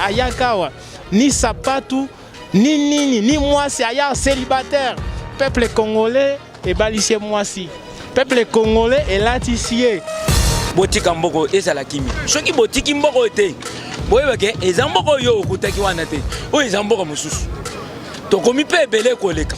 ayaka awa ni sapatu ni nini ni mwasi aya célibataire peuple congolais ebalisi ye mwasi peuple congolais elatisi ye botika mboko ezala kimi soki botiki mboko oyo te boyeba ke eza mboko oyo okutaki wana te oyo eza mboko mosusu tokomi mpe ebele koleka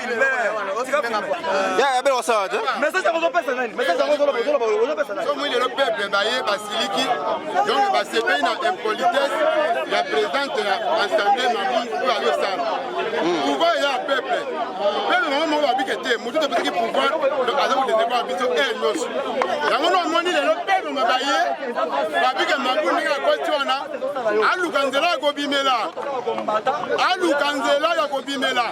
omoni lelo peuple baye basiliki donc basepeli na impolitesse ya présidente ya assemblée mamu oyo ayosana pouvoir ya peuple peuple bango moko babike te motu topesaki pouvoir donc aza kodesekwa biso heure nyonso yango na omoni lelo peuple ma baye babike mabu ndenge akwati wana aluka nzela ya kobimela aluka nzela ya kobimela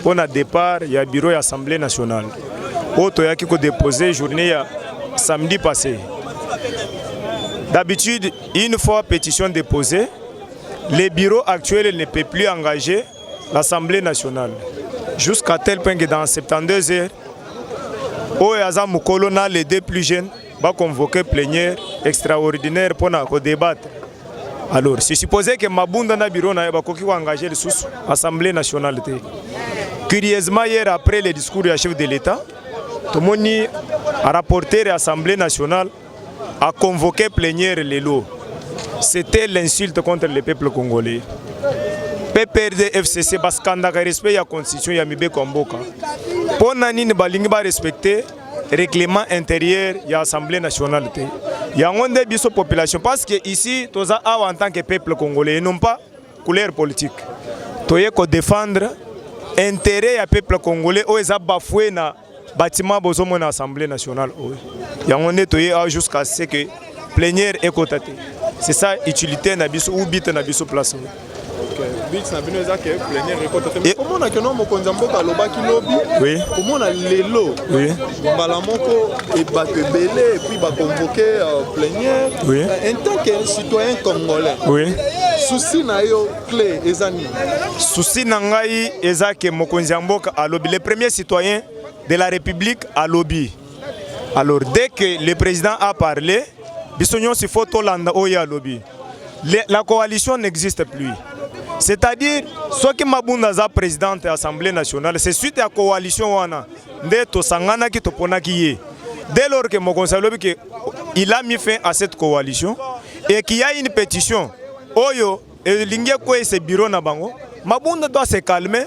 mpo na départ ya bureau ya assemblée nationale oyo toyaki kodepose journée ya samedi passé d'habitude une fois pétition déposée le bureau actuel ne peut plus engager l'assemblée nationale jusqu'à tel point que dans 72 heures oyo aza mokolo na les deux plus jeunes ba convoquer plénière extraordinaire pour na ko débattre alors c'est supposé que mabunda na bureau na ba koki ko engager les sous assemblée nationale te curieusement hier après le discours du chef de l'état tomoni rapporter l'Assemblée nationale a convoqué plénière lelo c'était l'insulte contre le peuple congolais PPRD FCC baskandaka respect ya constitution ya mibeko ya mboka mpo na nini balingi barespecte règlement intérieur ya assemblée nationale te yango nde biso population parce que ici toza awa en tant que peuple congolais et non pas couleur politique toye ko défendre intérêt ya peuple congolais oyo eza bafoue na bâtiment bozomona assemblée nationale oyo yango nde toye awa jusqu'à ce que plenière ekota te c'est ça utilité na biso ou bite na biso place oyo bit na bino eza ke plenière ekota te komona keno mokonzi ya mboka alobaki lobi komona lelo mbala moko bato ebele epuis bakonvoke euh, plenière euh, en tant que citoyen congolais susi na yo cle eza nini susi na ngai eza ke mokonzi ya mboka alobi le premier citoyen de la république alobi Alors dès que le président a parlé, biso nyonso il faut tolanda oyo alobi. La coalition n'existe plus. C'est-à-dire soki Mabunda aza présidente ya Assemblée nationale, c'est suite ya coalition wana nde tosanganaki toponaki ye. Dès lors que mokonzi alobi que il a mis fin à cette coalition et qu'il y a une pétition oyo elingi ekweyisa biro na bango mabunda doit se calmer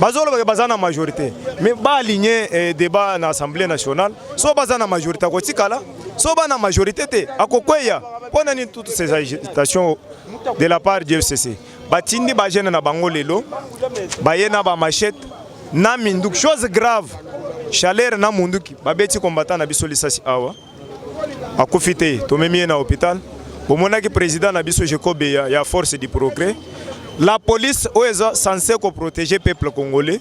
bazolobaka baza na majorité mais baaligner eh, débat na assemblée nationale so baza na majorité akotikala so ba na majorité te akokweya mpo na nini toutes ces agitations de la part du fcc batindi bagene na bango lelo baye na bamachete na minduki chose grave chaleur na munduki babeti kombata na biso lisasi awa akufi te tomemi ye na hôpital bomonaki président na biso Jacob ya, ya force du progrès la police oyo eza censé ko protéger peuple congolais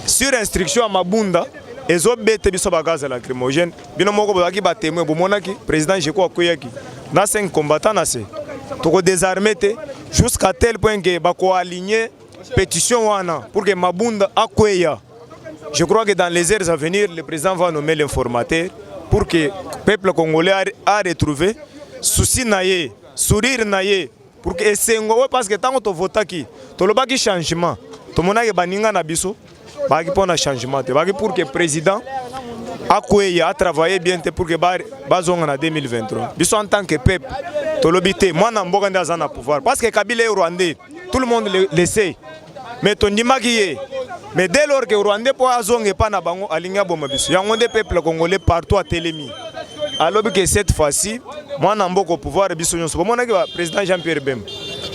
sur instruction ya mabunda ezobete biso ba gaz lacrymogène bino moko bozalaki ba témoin bomonaki président Jacob akweyaki na 5 combattant na se toko désarmer te jusqu'à tel point que bako aligner petition wana pour que Mabunda akweya je crois que dans les heures à venir le président va nommer l'informateur pour que peuple congolais a, a retrouvé souci na ye sourire na ye pour que esengo oyo parce que ntango tovotaki tolobaki changement tomonaki baninga na biso baki mpo na changement te baki pour que président akweya atravaille bien te pour que bazonga na 2023 biso en tant que peuple tolobi te mwana mboka nde aza na pouvoir parce que kabila ye rwandais tout le monde le, le sait mais tondimaki ye mais dès lors que rwandais mpo azonga epai na bango alingi aboma biso yango nde peuple congolais partout atelemi alobi ke cette fois-ci mwana mboka au pouvoir biso nyonso bomonaki président jean pierre bemba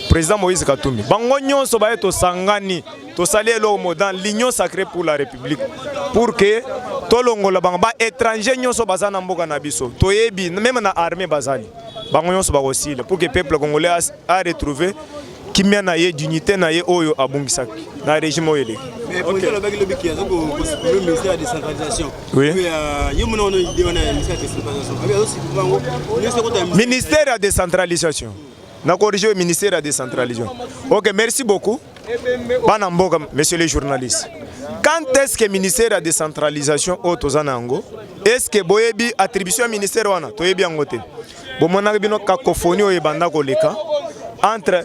président moïse katumbi bango nyonso baye tosangani tosali eloko mo dans l'union sacrée pour la république pour que tolongola bango ba étranger nyonso baza na mboka na biso toyebi meme na armée bazali bango nyonso bakosila pour que peuple congolais a, a retrouver kimia na ye dignité na ye oyo abungisaki na régime oyo eleki ministère ya décentralisation na corrige ministère ya décentralisation ok merci beaucoup bana mboka monsieur le journaliste quand est ce que ministère ya décentralisation oyo toza na yango est ce que boyebi attribution ya ministère wana toyebi yango te bomonaki bino cacophonie oyo ebanda koleka entre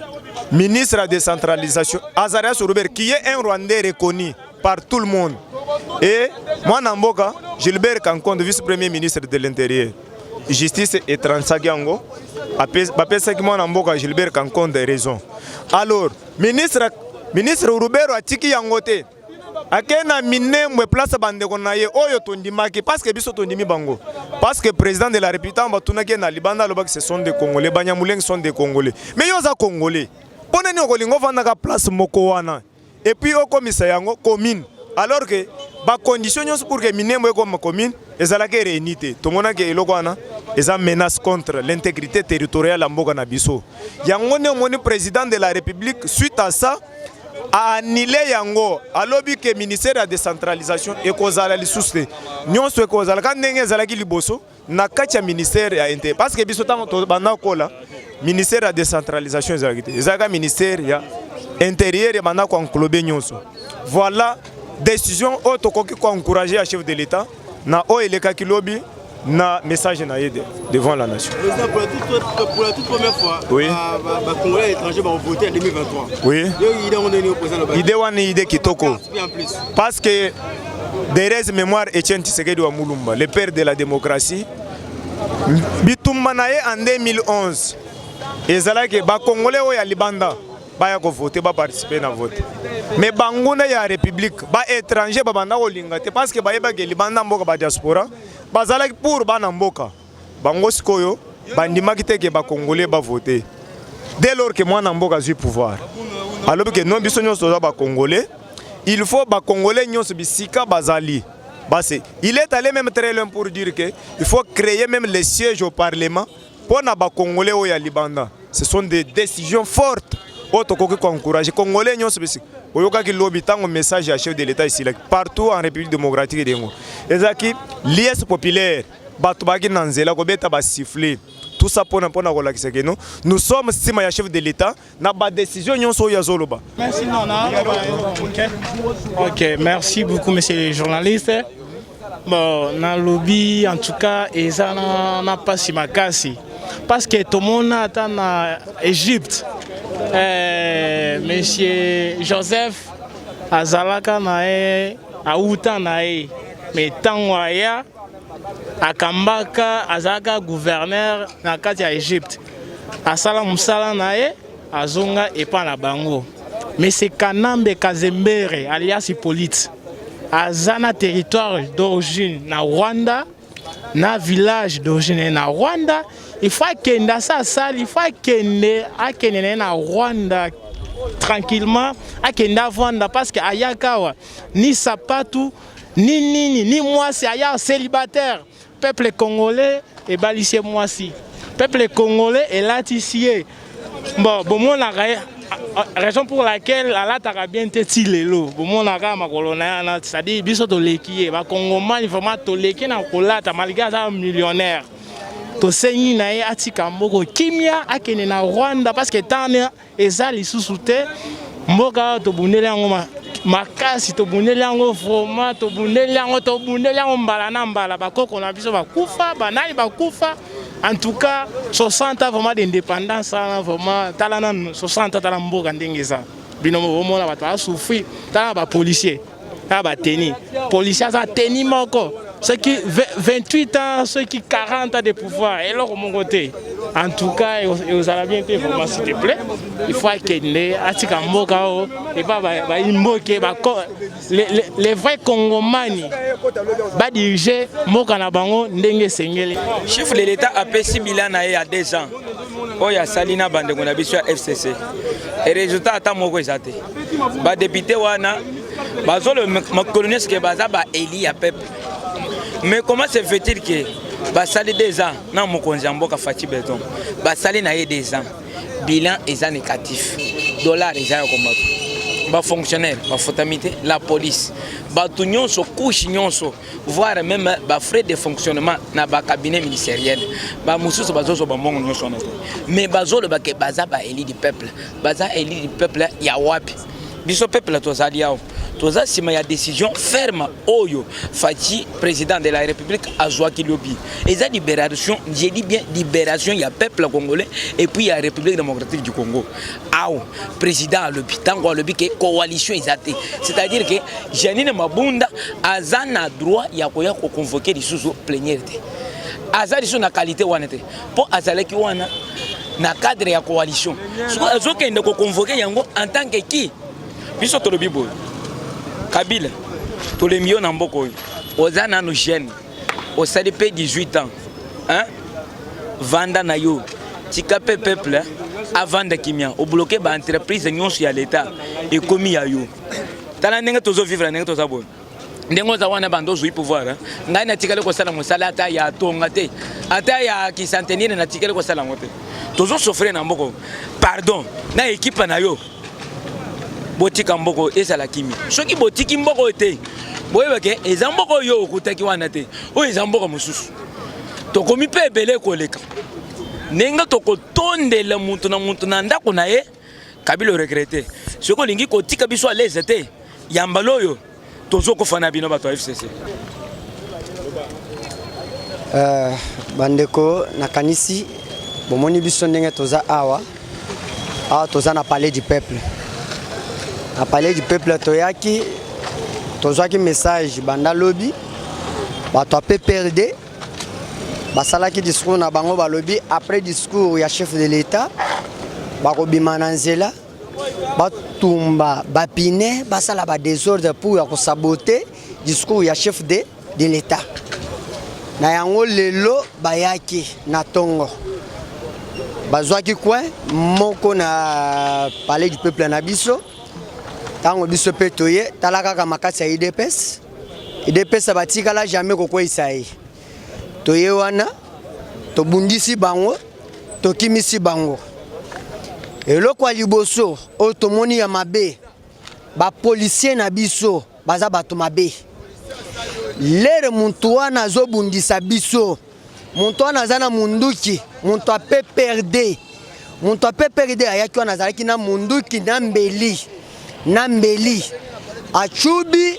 ministre ya décentralisation azarias robert qui est un rwandais reconnu par tout le monde et mwana mboka gilbert kankonde vice premier ministre de l'intérieur justice etransaki yango bapesaki mwana mboka gilbert kankonde raison alors ministre, ministre urubero atiki yango te ake na minembwe place bandeko na ye oyo tondimaki parceke biso tondimi bango parceke président de la république ntango batunaki ye na libanda alobaki ce sont des congolais banyamulenge sont des congolais mais yo oza congolais mpo na nini okolinga ofandaka place moko wana et puis okomisa yango commune alors que ba conditions nyonso pour que Minembwe ekoma commune ezalaki réunie te tomonaki eloko wana eza menace contre l'intégrité territoriale ya mboka na biso yango nde omoni président de la république suite à ça a annulé yango alobi ke ministère ya décentralisation ekozala lisusu te nyonso ekozala ka ndenge ezalaki liboso na kati ya ministère ya interieur parce que biso ntango tobanda kola ministère ya décentralisation ezalaki te ezalaka ministère ya interieur ya bandako ya nkolobe nyonso voilà décision oyo tokoki koencourage ya chef de l'état na oyo elekaki lobi na message na ye devant la nation. Président, pour la toute, pour la toute première fois, oui. ba, ba, ba Congolais étrangers vont voter en 2023. Oui. Idée wana idée kitoko. Parce que Derez memoire Etienne Tshisekedi wa Mulumba, le père de la démocratie. Bitumba na ye en 2011 ezalaki ba congolais oyo ya libanda baya ko voter ba participer na vote. Mais banguna ya république ba étranger babanda kolinga te parce que bayebaki libanda mboka ba diaspora bazalaki pour bana mboka. Bango sikoyo bandimaki te ke ba congolais ba voter. Dès lors que mwana mboka azui pouvoir, alobi ke non biso nyonso toza ba congolais, il faut ba congolais nyonso bisika bazali base. Il est allé même très loin pour dire que il faut créer même les sièges au parlement mpo na ba congolais oyo ya libanda. Ce sont des décisions fortes oyo tokoki ko encourager congolais nyonso bisika oyokaki lobi ntango message ya chef de l'etat esilaki partout en république démocratique de congo ezalaki liesse populaire bato bayaki na nzela kobeta basifle tout ça pona pona kolakisa que nous nous sommes sima ya chef de l'état na ba décision nyonso oyo azoloba merci nana ok merci beaucoup monsieur le journaliste bon nalobi en tout cas eza na, na pasi makasi parce que tomona ata na égypte eh, monsieur joseph azalaka na ye awuta na ye mais ntango aya akambaka azalaka gouverneur na kati ya egypte asala mosala na ye azonga epa na bango mese kanambe kazembere alias hippolyte aza na territoire d'origine na rwanda na village d'origine na rwanda ifo akende asa asali ifo akende akende na ye na rwanda tranquillement akende avanda parce que ayaka awa ni sapatu Ni nini ni mwasi aya célibataire. Peuple congolais ebalisi ye mwasi. Peuple congolais elatisi ye. Bon, bomonaka ye raison pour laquelle alataka bien te ti lelo bomonaka makolo na yana c'est-à-dire biso toleki ye bakongomani vraiment toleki na kolata malgré aza millionnaire tosengi na ye atika mboko kimia akende na rwanda parce que tana Eza lisusu te mboka oyo tobundeli yango makasi tobundeli yango vroma tobundeli yango tobundeli yango mbala na mbala bakoko na biso bakufa banani bakufa en tout cas 60 ans vraiment d'indépendance wana vraiment tala nanu 60 ans tala mboka ndenge eza bino bomona bato basouffrir tala bapolicier na bateni policier aza teni moko soki 28 ans soki 40 ans de pouvoir eloko moko te en tout cas ekozala bien te vraiment s'il te plaît il faut akende atika mboka oyo epa bayimboke les vrais congomani badirige mboka na bango ndenge esengeli chef de l'état apesi bila na ye ya 2 ans oyo asali na bandeko na biso ya fcc e resultat ata moko eza te badepute wana bazolo makolo nyonso ke baza baeli ya peuple mais comment se fait-il ke basali deux ans na mokonzi ya mboka fati beton basali na ye deux ans bilan eza négatif dollar eza ya komata bafonctionnaire bafutami te la police bato nyonso kushe nyonso voire même ba frais de fonctionnement na ba cabinet ministériel ba mususu bazozo ba mbongo nyonso wana te mais bazoloba ke baza ba élu du peuple baza élu du peuple ya wapi biso peuple tozali awa toza nsima ya décision ferme oyo faci président de la république azwaki lobi eza libération je dis bien libération ya peuple congolais et puis ya république démocratique du congo awa président alobi ntango alobi ke coalition eza te c'est-à-dire ke janine mabunda aza na droit ya koya koconvoke lisusu pleniere te aza lisusu na qualité wana te mpo azalaki wana na cadre ya coalition soko azokende koconvoke yango en tant ke ki biso tolobi boye kabila tolembi yo na mboka oyo oza nano jeune osali pe 18 ans hein? vanda na yo tika pe peuple hein? avanda kimia obloke ba entreprise nyonso ya leta ekomi ya yo tala ndenge tozo vivre ndenge toza boye ndenge oza wana banda ozwi pouvoir ngai natikali kosala mosala ata ya tonga te ata ya kisantenire natikali kosala yango te tozosofre na mboko pardon na ekipa na yo botika mboko ezala kimia soki botiki mboko te boyeba ke eza mboko oyo okutaki wana te oyo eza mboko mosusu tokomi mpe ebele koleka ndenge tokotondela moto na moto na ndako na ye kabila oregrete soki olingi kotika biso alese te yambala oyo Tozo kufa na bino bato ya FCC. Uh, bandeko nakanisi bomoni biso ndenge toza awa awa toza na palais du peuple na palais du peuple toyaki tozwaki message banda lobi bato ya pprd basalaki discours na bango balobi après discours ya chef de l'état bakobima na nzela batumba bapine basala ba desordre pour ya kosabote discours ya chef de, de l'etat na yango lelo bayaki na ntongo bazwaki coin moko na palais du peuple na biso ntango biso mpe toye tala kaka makasi ya idps idps batikala jamais kokweisa ye toye wana tobundisi bango tokimisi bango eloko ya liboso oyo tomoni ya mabe bapolisier na biso baza bato mabe lere moto wana azobundisa biso moto wana aza na munduki moto ya pprd moto ya pprd ayaki wana azalaki na munduki na mbeli na mbeli acubi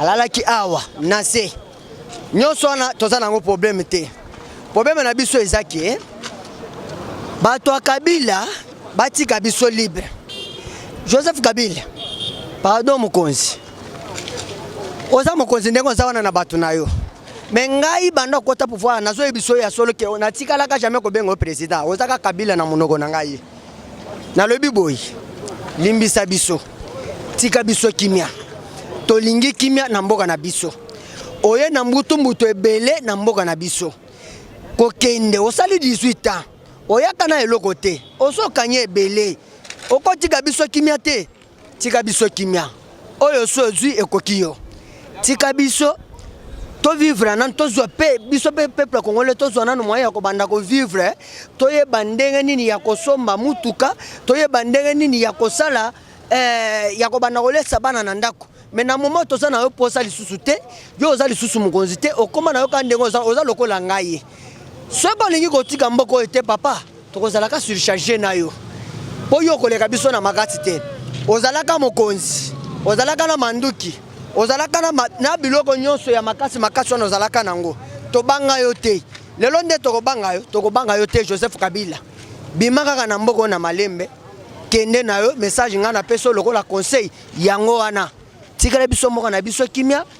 alalaki awa na se nyonso wana toza nango problème te problème na biso eza ke bato ya kabila batika biso libre joseph kabila pardon mokonzi oza mokonzi ndenge oza wana na bato na yo me ngai banda okota pouvoir nazoyebisa yo ya solo ke natikalaka jamais kobenga yo président ozaka kabila na monoko na ngai nalobi boye limbisa biso tika biso kimia tolingi kimia na mboka na biso oye na mbutu mbutu ebele na mboka na biso kokende osali 18 ans oyaka na eloko te ozokanye ebele okotika biso kimia te Tika biso kimia. Oyo so zui ekoki yo. Tika biso to vivre nanu tozwa mpe biso mpe peuple congolais tozwa nanu moyen ya kobanda kovivre toyeba ndenge nini ya kosomba mutuka toyeba ndenge nini ya kosala eh, ya kobanda kolesa bana na ndako me na moma toza na yo mposa lisusu te yo oza lisusu mokonzi te okoma na yo kaka ndenge oza lokola ngai soki olingi kotika mboka oyo te papa Tokozalaka surcharge na yo mpo yo okoleka biso na makasi te. Ozalaka mokonzi, ozalaka na manduki, ozalaka na, ma, na biloko nyonso ya makasi makasi wana ozalaka nango. Tobanga yo te lelo, nde tokobanga yo, tokobanga yo te. Joseph Kabila, bima kaka na mboko na malembe, kende na yo. Message ngai napesi lokola conseil yango wana, tikala biso moko na biso kimia.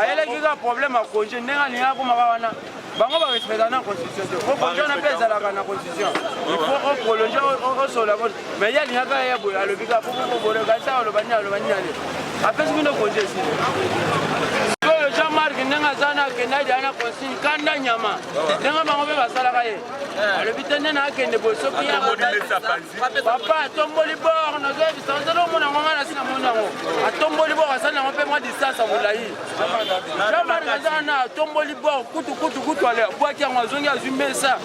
ayelaki kaka problème ya congé ndenge alingi akoma ba wana bango ba respecta na constitution te po constitution na mpe ezalaka na constitution il faut o prolonge osola bo mais ye alingaka ye boye alobi ka popopobono kasi aloba nini aloba nini ale apesi bino konje esi oyo jean marc ndenge aza na akende adia na consigne kanda nyama ndenge bango mpe basalaka ye eh. alobi te nde na akende boye soki papa atomboli bor nazoyebisa ozali omona ngo ngai nasi na moni yango atomboli bor asali yango mpe mwa distance ya molai jamari aza wana atomboli bor kutu kutu kutu ale abwaki yango azongi azwi mesa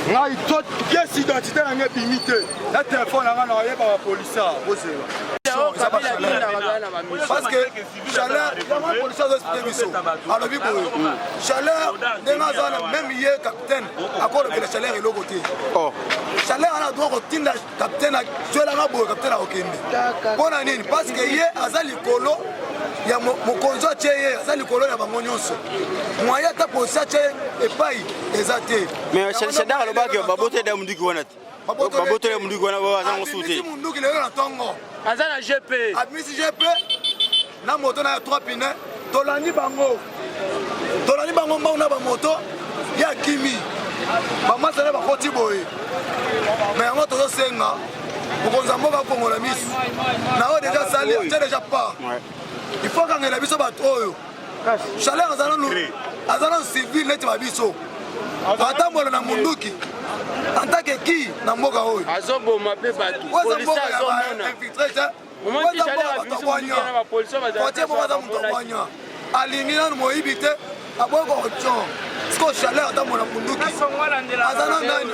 ngai to pièce identité na ngai ebimi te na telefone na ngai na oyeba bapolisa bozela parce que chaleur polisi azo explike biso alobi boye chaleur ndenge aza na meme ye capitaine akolobela chaleur eloko te chaleur ana droit kotinda capitaine azwelaka boye capitaine akokende mpo na nini parce que ye aza likolo ya mokonzi atye ye aza likolo ya bango nyonso mwaye ata posi atye epai eza te mais shadar alobaki baboteli ya mondiki wana te baboteli ya mondiki wana aza ngo sute munduki lelo na ntongo aza na gp abimisi gp na moto na ya 3 pine tolandi bango tolandi bango mbangu na bamoto ya kimi bamasa na bakoti boye me yango tozosenga mokonzi ya mboka akongola miso na oyo deja sali tya deja part il faut akangela biso bato oyo chaleur aza nanu aza nanu civil neti ba biso atambola na munduki antake ki na mboka oyo azoboma mpe bato kotie moko aza moto abwanya alingi nanu moyibi te aboyi kokotyon siko chaleur ata mona munduki aza na nani